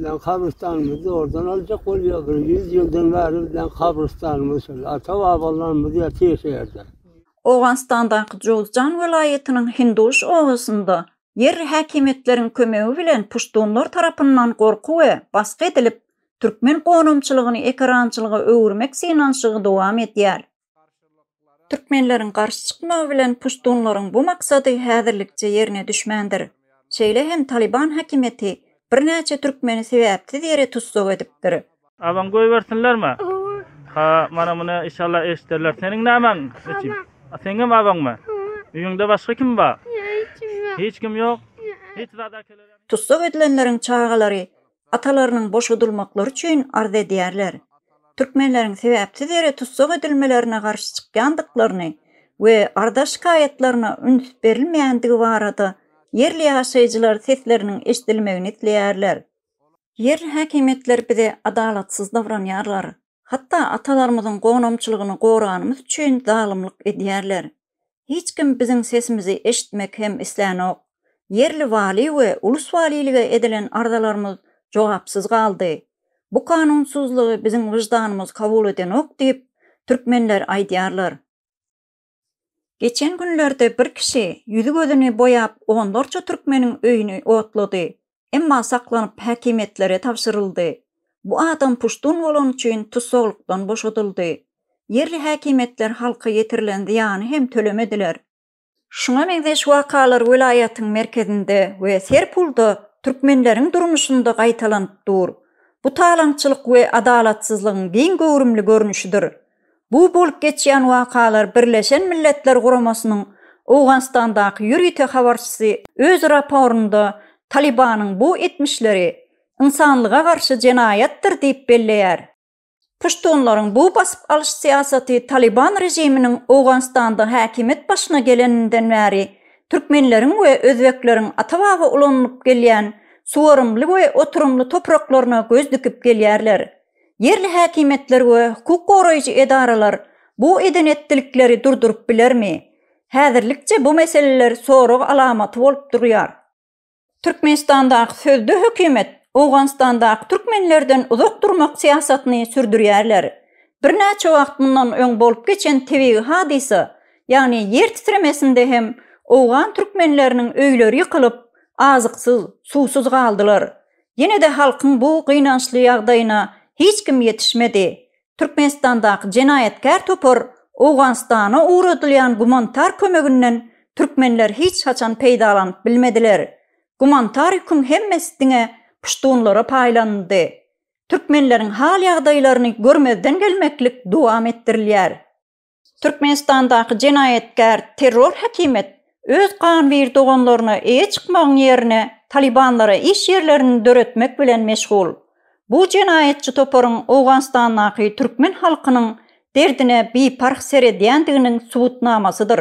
bizden kabristanymyzy oradan aljak bolýar. Bir ýüz ýyldan bäri bizden kabristanymyz şol. Ata-babalarymyz ýa teşerde. Owganystandaky Jowzjan welaýatynyň Hinduş obasynda ýerli häkimiýetleriň kömegi bilen puştunlar tarapyndan gorky we basgy edilip, türkmen gonamçylygyny ekerançylyga öwürmek synanyşygy dowam edýär. Türkmenleriň garşy çykmagy bilen puştunlaryň bu maksady häzirlikçe ýerine düşmändir. Şeýle hem Talyban häkimiýeti birnäçe türkmeni sebäpsiz ýere tussag edipdir. Abaň goýbersinlermi? Hawa. Ha, mana muny işalla eşiderler. Seniň nämäň? Eçim. A seňem abaňmy? Hawa. Öýüňde başga kim bar? Ýa hiç kim ýok. Hiç kim ýok? Hiç zat äkelere. Tussag edilenleriň çagalary atalarynyň boşadylmaklary üçin arz edýärler. Türkmenleriň sebäpsiz ýere tussag edilmelerine garşy çykýandyklaryny we arza şikaýatlaryna üns berilmeýändigi barada ýerli ýaşaýjylar sesleriniň eşidilmegini isleýärler. Ýerli häkimiýetler bize adalatsyz dowranýarlar, hatda atalarymyzyň gonamçylygyny goraganymyz üçin zalymlyk edýärler. Hiç kim biziň sesimizi eşitmek hem islänok. Ýerli waly we ulus walilige edilen arzalarymyz jogapsyz galdy. Bu kanunsuzlygy biziň wyždanymyz kabul edenok diýip, türkmenler aýdýarlar. Geçen günlerde bir kişi ýüzi-gözüni boýap onlarça türkmeniň öýüni otlady. emma saklanyp häkimiýetlere tabşyryldy. Bu adam puştun bolany üçin tussaglykdan boşadyldy. Ýerli häkimiýetler halka ýetirilen zyýany hem tölemediler. Şuňa meňzeş wakalar welaýatyň merkezinde we Serpulda türkmenleriň durmuşynda gaýtalanyp dur. Bu talaňçylyk we adalatsyzlygyň giň göwrümli görnüşidir. Bu bolup geçýän wakalar Birleşen Milletler Guramasynyň Owganystandaky ýörite habarçysy öz raporynda Talybanyň bu etmişleri ynsanlyga garşy jenaýatdyr diýip belleýär. Puştunlaryň bu basyp alyş syýasaty Talyban režiminiň Owganystanda häkimiýet başyna geleninden bäri türkmenleriň we özbekleriň ata-baba ulanylyp gelýän suwarymly we oturymly topraklaryna göz dikip gelýärler. Ýerli häkimiýetler we hukuk goraýjy edaralar bu eden-etdilikleri durduryp bilermi? Häzirlikçe bu meseleler sorag alamaty bolup durýar. Türkmenistandaky sözde hökümet Owganystandaky türkmenlerden uzak durmak syýasatyny sürdürýärler. Birnäçe wagt mundan öň bolup geçen tebigy hadysa, ýagny ýer titremesinde hem owgan türkmenleriniň öýleri ýykylyp, azyksyz, suwsuz galdylar. Ýene-de halkyň bu gynançly ýagdaýyna hiç kim ýetişmedi. Türkmenistandaky jenaýatkär topar Owganystana ugradylýan gumanitar kömeginden türkmenler hiç haçan peýdalanyp bilmediler. Gumanitar ýüküň hemmesi diňe puştunlara paýlanyldy. Türkmenleriň hal-ýagdaýlaryny görmezden gelmeklik dowam etdirilýär. Türkmenistandaky jenaýatkär terror häkimet öz ganwir doganlaryna eýe çykmagyň ýerine talibanlara iş ýerlerini döretmek bilen meşgul. Bu jenaýatçy toparyň Owganystandaky türkmen halkynyň derdine biparh seredýändiginiň subutnamasydyr.